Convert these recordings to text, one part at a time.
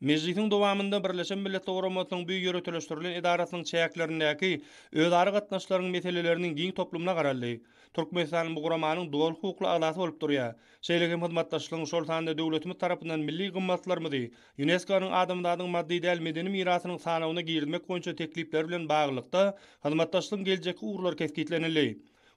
Mejlisiň dowamynda Birleşen Milletler Guramasynyň bu ýöriteleşdirilen edarasynyň çäklerindäki özara gatnaşyklaryň meseleleriniň giň toplumyna garaldy. Türkmenistan bu guramanyň doly hukukly agzasy bolup durýar. Şeýle hem hyzmatdaşlygyň, şol sanda döwletimiz tarapyndan milli gymmatlarymyzy ÝUNESKO-nyň Adamzadyň maddy däl medeni mirasynyň sanawyna girizmek boýunça teklipleri bilen baglylykda, hyzmatdaşlygyň geljekki ugurlary kesgitlenildi.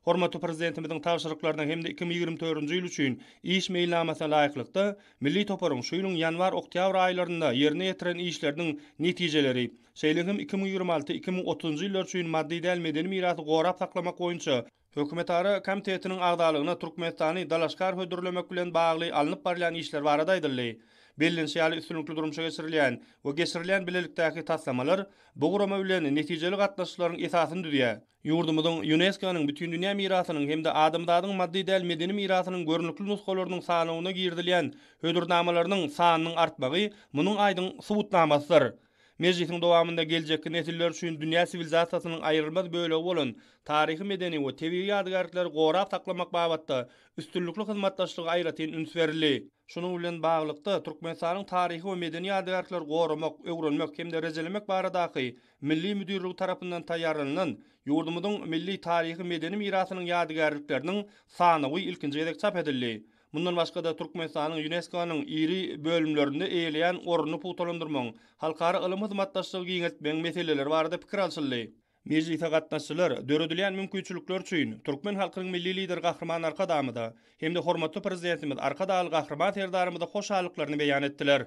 Hormatly Prezidentimiziň tabşyryklaryna hem-de iki müň ýigrimi dördünji ýyl üçin iş meýilnamasyna laýyklykda, milli toparyň şu ýylyň ýanwar-oktýabr aýlarynda ýerine ýetiren işleriniň netijeleri, şeýle hem iki müň ýigrimi alty, iki müň otuzynjy ýyllar üçin maddy däl medeni mirasy gorap saklamak boýunça Hökümetara komitetiniň agzalygyna Türkmenistany dalaşgär hödürlemek bilen bagly alnyp barylýan işler barada aýdyldy. Bellenişi ýaly, üstünlikli durmuşa geçirilýän we geçirilýän bilelikdäki taslamalar bu gurama bilen netijeli gatnaşyklaryň esasyny düzýär. Ýurdumyzyň Ýunesko-nyň Bütindünýä mirasynyň hem-de Adamzadyň maddy däl medeni mirasynyň görnükli nusgalarynyň sanawyna girizilýän hödürnamalarynyň sanynyň artmagy munuň aýdyň subutnamasydyr. Mejlisiň dowamynda geljekki nesiller üçin dünýä siwilizasiýasynyň aýrylmaz bölegi bolan taryhy-medeni we tebigy ýadygärlikleri gorap saklamak babatda üstünlikli hyzmatdaşlyga aýratyn üns berildi. Şunuň bilen baglylykda, Türkmenistanyň Taryhy we medeni ýadygärlikleri goramak, öwrenmek hem-de rejelemek baradaky Milli müdirligi tarapyndan taýýarlanylan Ýurdumyzyň milli taryhy-medeni mirasynyň ýadygärlikleriniň sanawy ilkinji gezek çap edildi. Mundan başga-da, Türkmenistanyň ÝUNESKO-nyň iri bölümlerinde eýeleýän ornuny pugtalandyrmagyň, halkara ylym hyzmatdaşlygy giňeltmegiň meseleleri barada pikir alşyldy. Mejlise gatnaşyjylar döredilýän mümkinçilikler üçin türkmen halkynyň Milli Lideri Gahryman Arkadagymyza hem-de hormatly Prezidentimiz Arkadagly Gahryman Serdarymyza hoşallyklaryny beýan etdiler.